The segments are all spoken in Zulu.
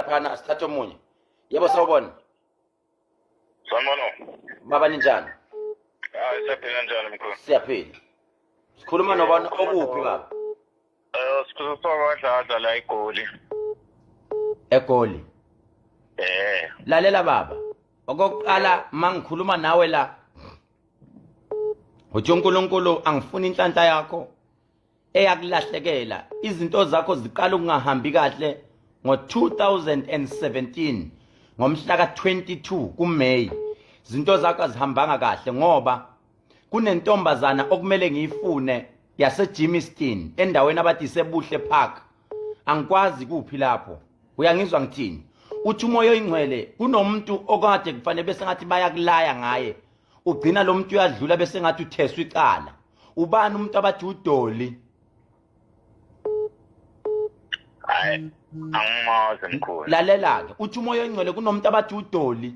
laphana sithathe omunye yebo sawubona sanibona baba ninjani hayi siyaphila njani mkhulu siyaphila sikhuluma nobani okuphi baba um sikhuluma kwakwadladla la egoli egoli eh lalela baba okokuqala mangikhuluma nawe la uthi uNkulunkulu angifuni inhlanhla yakho eyakulahlekela izinto zakho ziqala ukungahambi kahle ngo-2017 ngomhla ka-22 kuMay izinto zakho azihambanga kahle ngoba kunentombazana okumele ngiyifune yaseGimiston endaweni abathi iseBuhle Park angikwazi kuphi lapho uyangizwa ngithini uthi umoya oyingcwele kunomuntu okade kufanele bese ngathi bayakulaya ngaye ugcina lo muntu uyadlula bese ngathi utheswa icala ubani umuntu abathi udoli angimazi mkhulu lalela-ke uthi umoya ongcwele kunomuntu abathi udoli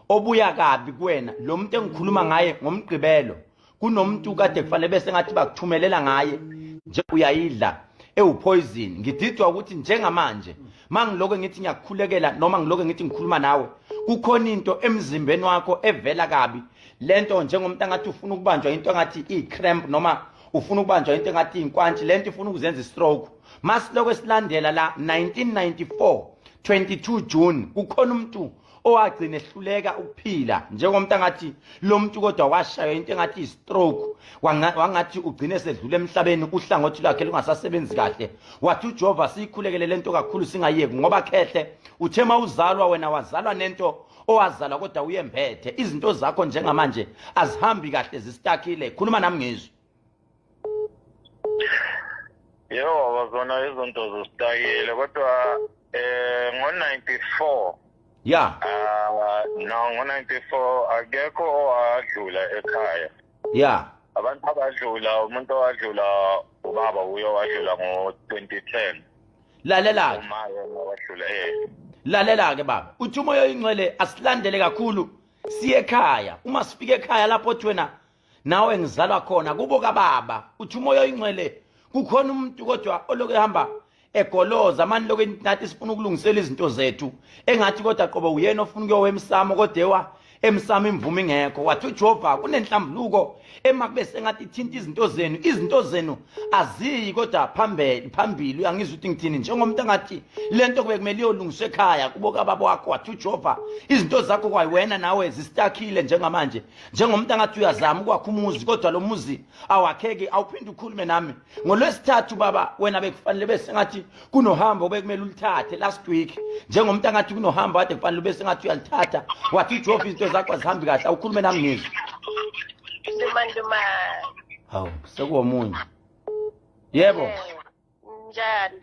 obuya kabi kuwena lo muntu engikhuluma ngaye ngomgqibelo kunomuntu kade kufanele bese ngathi bakuthumelela ngaye nje uyayidla ewuphoyizini ngididwa ukuthi njengamanje mangiloke ngithi ngiyakukhulekela noma ngiloke ngithi ngikhuluma nawe kukhona into emzimbeni wakho evela kabi lento njengomuntu angathi ufuna ukubanjwa into engathi i-cramp noma ufuna ukubanjwa into engathi iy'nkwantshi lento ifuna ukuzenza i-stroke masiloko esilandela la 1994 22 june kukhona umuntu owagcina ehluleka ukuphila njengomuntu angathi lo muntu kodwa washaywa into engathi i-stroke wangathi ugcine sedlule emhlabeni uhlangothi lwakhe lungasasebenzi kahle wathi ujehova siyikhulekele le nto kakhulu singayeki ngoba khehle uthe ma uzalwa wena wazalwa nento owazalwa kodwa uyembethe izinto zakho njengamanje azihambi kahle zisitakile khuluma nami ngizwe yebo baba zona izinto zositayile kodwa eh ngo-94 ya ah, no ngo-94 akekho owadlula ekhaya ya abantu abadlula umuntu owadlula ubaba uye wadlula ngo-2010 lalela-ke eh. lalela-ke baba uthi umoya oyingcwele asilandele kakhulu siye ekhaya uma sifika ekhaya lapho othi wena nawe ngizalwa khona kubo kababa uthi umoya oyingcwele kukhona umuntu kodwa oloku ehamba egoloza mani lokhu nathi sifuna ukulungisela izinto zethu engathi kodwa qobo uyena ofuna ukuyowa emsamo kodewa emsamo imvume ingekho wathi ujehova kunenhlambuluko ema kube sengathi ithinta izinto zenu izinto zenu aziyi kodwa phambili phambili uyangizwa ukuthi ngithini njengomuntu angathi le nto kube kumele iyolungiswa ekhaya kubo kababa wakho wathi ujehova izinto zakho kwayiwena nawe zisitakile njengamanje njengomuntu angathi uyazama ukwakha umuzi kodwa lo muzi awakheki awuphinde ukhulume nami ngolwesithathu baba wena bekufanele bese ngathi kunohambo bekumele ulithathe last week njengomuntu angathi kunohambo kade kufanele ube sengathi uyalithatha wathi ujofa izinto zakho azihambi kahle awukhulume nami ngizwe hawu sekuwomunye yebo njani